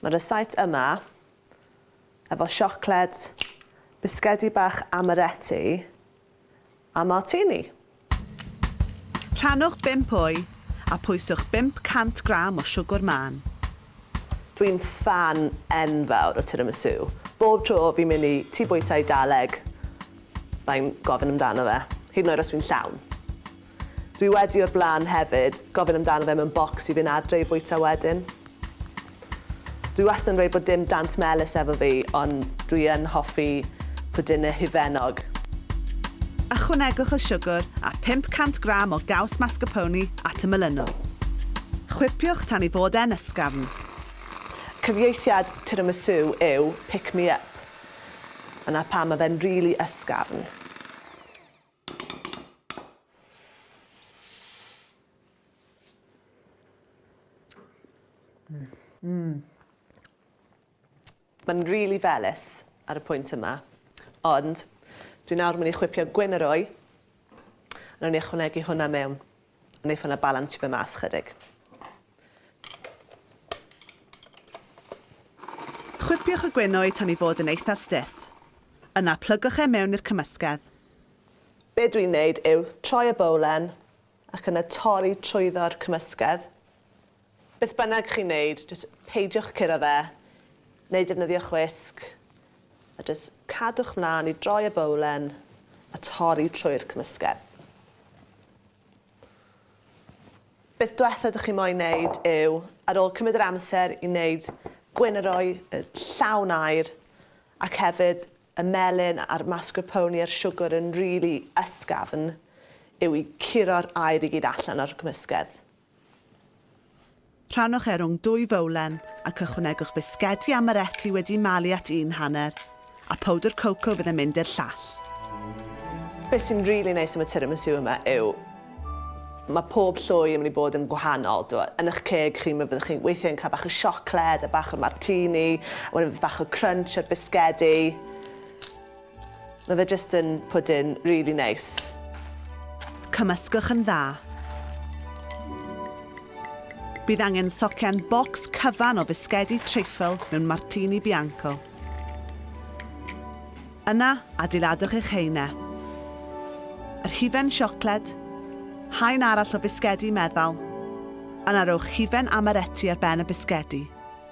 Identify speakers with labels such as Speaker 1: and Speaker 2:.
Speaker 1: Mae rysáit yma efo siocled, bisgedi bach amaretti a martini.
Speaker 2: Rhannwch 5 o'i a pwyswch 500 gram o siwgwr mân. Dwi'n
Speaker 1: ffan enfawr o tiramisu. Bob tro fi'n mynd i tŷ bwyta Eidaleg, fai'n gofyn amdano fe, hyd yn oed os fi'n llawn. Dwi wedi o'r blaen hefyd gofyn amdano fe mewn bocs i fynd adre i fwyta wedyn. Dwi wastad yn dweud bod dim dant melys efo fi ond dwi yn hoffi pwdinne hufennog.
Speaker 2: Ychwanegwch y siwgr a 500 gram o gaws mascarpone at y melynwn. Chwipiwch tan ei fod e'n ysgafn.
Speaker 1: Cyfieithiad tiramisu yw pick me up. Dyna pam mae fe'n rili ysgafn. Mae'n rili felys ar y pwynt yma, ond dwi nawr myn' i chwipio gwyn y roi, a newn ni ychwanegu hwnna mewn. Wnaethon nhw balansio fe mas chydig.
Speaker 2: Chwipiwch y gwenwyd tan ei fod yn eitha stiff. Yna plygwch e mewn i'r cymysgedd. Be
Speaker 1: dwi'n wneud yw troi y bowlen ac yna torri trwyddo'r cymysgedd. Beth bynnag chi'n neud, jyst peidiwch curo fe, neu defnyddio chwisg, a jyst cadwch mlan i droi y bowlen a torri trwy'r cymysgedd. Beth dwetha dych chi moyn neud yw, ar ôl cymryd yr amser i neud gwyn yr oi yy llawn aer, ac hefyd y melyn a'r mascarpone a'r siwgr yn rili ysgafn, yw i curo'r aer i gyd allan o'r cymysgedd.
Speaker 2: Rhannwch e rhwng dwy fowlen ac ychwanegwch bisgedi amaretti wedi malu at un hanner, a powdr coco fydd yn mynd i'r llall.
Speaker 1: Beth sy'n rili neis am y tiramisu yma yw mae pob llwy yn mynd i bod yn gwahanol. T'mod, yn 'ych ceg chi mi fyddwch chi'n weithie yn cael bach o siocled a bach o martini, a wedyn fydd bach o crunch a'r bisgedi. Mae fe jyst yn pwdin rili neis.
Speaker 2: Cymysgwch yn dda. Bydd angen socian bocs cyfan o fisgedi treifl mewn martini bianco. Yna, adeiladwch eich haenau. Yr hufen siocled, haen arall o fisgedi meddal, yna rowch hufen amaretti ar ben y bisgedi.